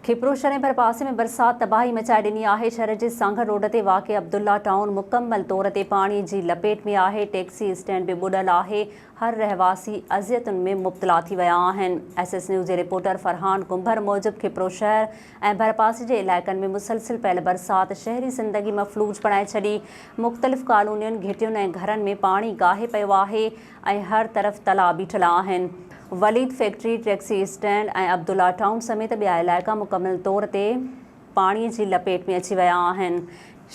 کپروشهر ۽ ڀرپاسي ۾ برسات تباهي مچائي ڏني آهي، شهر جي سانگهڙ روڊ تي واقع عبدالله ٽائون مڪمل طور تي پاڻي جي لپيٽ ۾ آهي، ٽيڪسي اسٽينڊ به ٻڏل آهي، هر رهواسي اذيتن ۾ مبتلا ٿي ويا آهن، ايس ايس نيوز جي رپورٽر فرحان ڪنڀر موجب کپروشهر ۽ ڀرپاسي جي علائقن ۾ مسلسل پيل برسات شهري زندگي مفلوج بڻائي ڇڏي، مختلف ڪالونين، گهٽين ۽ گهرن ۾ پاڻي گاهي پيو آهي، ۽ هر طرف تلاء بيٺل آهن. Walid factory, taxi stand ۽ Abdullah town سميت ٻيا علائقا مڪمل طور تي پاڻي جي لپيٽ ۾ اچي ويا آهن.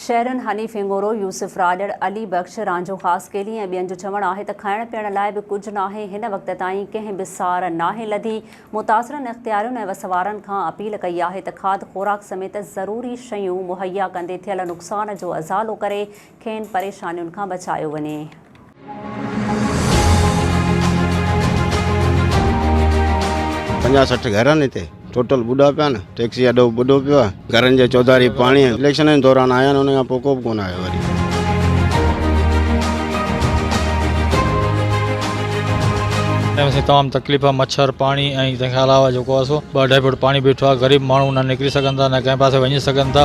شهرين هني ڦنگورو، يوسف راڄڙ، علي بخش، رانجهو خاص ڪيلي ۽ ٻين جو چوڻ آهي ته کائڻ پيئڻ لاء به ڪجهه ناهي، هن وقت تائين ڪنهن به سار ناهي لڌي، متاثرن اختيارين ۽ وسوارن کان اپيل ڪئي آهي ته کاڌ خوراڪ سميت ضروري شيون مهيا ڪندي ٿيل نقصان جو ازالو ڪري کين پريشانين کان بچايو وڃي. پنجاهه سٺ گهر آهن هتي ٽوٽل ٻڏا پيا آهن ٽيڪسي اڏو به ٻڏو پيو آهي گهرن جي چوڌاري پاڻي اليڪشنن جي دوران آيا آهن ان کان پوء ڪو به ڪونه آيو وري. اسين تمام تڪليف مڇر پاڻي ۽ تنهن کان علاوه جيڪو آهي سو ٻه اڍائي فوٽ پاڻي بيٺو آهي غريب ماڻهو نه نڪري سگهن ٿا نه ڪنهن پاسي وڃي سگهن ٿا.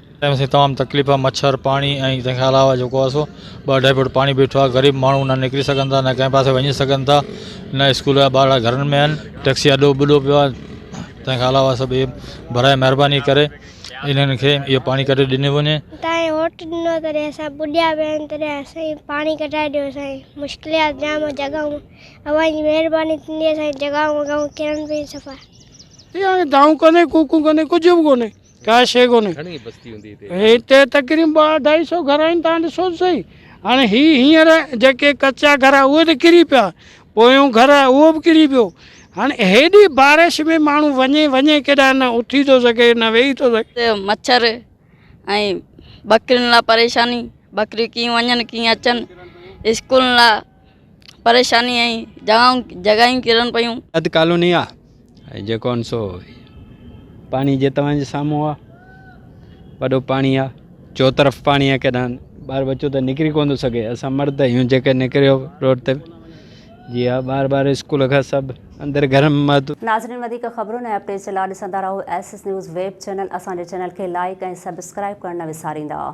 تنهن سين تمام تڪليف، مڇر، پاڻي ۽ تنهن کان علاوه جيڪو آسو ٻه اڍائي فوٽ پاڻي بيٺو آهي، غريب ماڻهو نه نڪري سگهن ٿا، نه ڪنهن پاسي وڃي سگهن ٿا، نه اسڪول جا ٻارڙا گهرن ۾ آهن، ٽيڪسي اڏو ٻڏو پيو آهي، تنهن کان علاوه سڀ اهي برائي مهرباني ڪري انهن کي اهو پاڻي ڪڍي ڏني وڃي. تائين ووٽ ڏنو تڏهن اسان ٻڏيا پيا آهيون تڏهن اسانکي پاڻي ڪڍرائي ڏيو سائين مشڪليات جام آهي جڳهون اوهان جي مهرباني ٿيندي اسانجي جڳهون وڳهون ڪرن پيون صفا. ڪيئن آهي دانهون ڪونهي ڪوڪون ڪونهي ڪجهه به ڪونهي. ڪا شيء ڪونهي. هتي تقريبن ٻه اڍائي سو گهر آهن، تان ڏسو ته سهي. هاڻي هي هينئر جيڪي ڪچا گهر آهن اهي ته ڪري پيا، پويون گهر آهي اهو به ڪري پيو. هاڻي هيڏي بارش ۾ ماڻهو وڃي وڃي ڪيڏانهن، نه اٿي ٿو سگهي نه ويهي ٿو سگهي. هتي مڇر ۽ ٻڪرين لا پريشاني، ٻڪريون ڪيئن وڃن ڪيئن اچن، اسڪولن لا. پريشاني ۽ جاهون جڳايون ڪرڻ پيون. اڌ ڪالوني آ ۽ جيڪو ان سو پاڻي جي توهان جي سامهون آ وڏو پاڻي آ چوطرف پاڻي آ ڪيڏانهن ٻار بچو ته نڪري ڪون ٿو سگهي اسان مرد آهيون جيڪي نڪريو روڊ تي جي آ ٻار ٻار اسڪول کان سڀ اندر گهر م مهدو ناظرين وڌيڪ خبرن ۽ اپڊيٽس جي لا ڏسندا رهو S S news web channel اسان جي چينل کي لائيڪ ۽ سبسڪرائيب ڪرڻ نه وساريندا.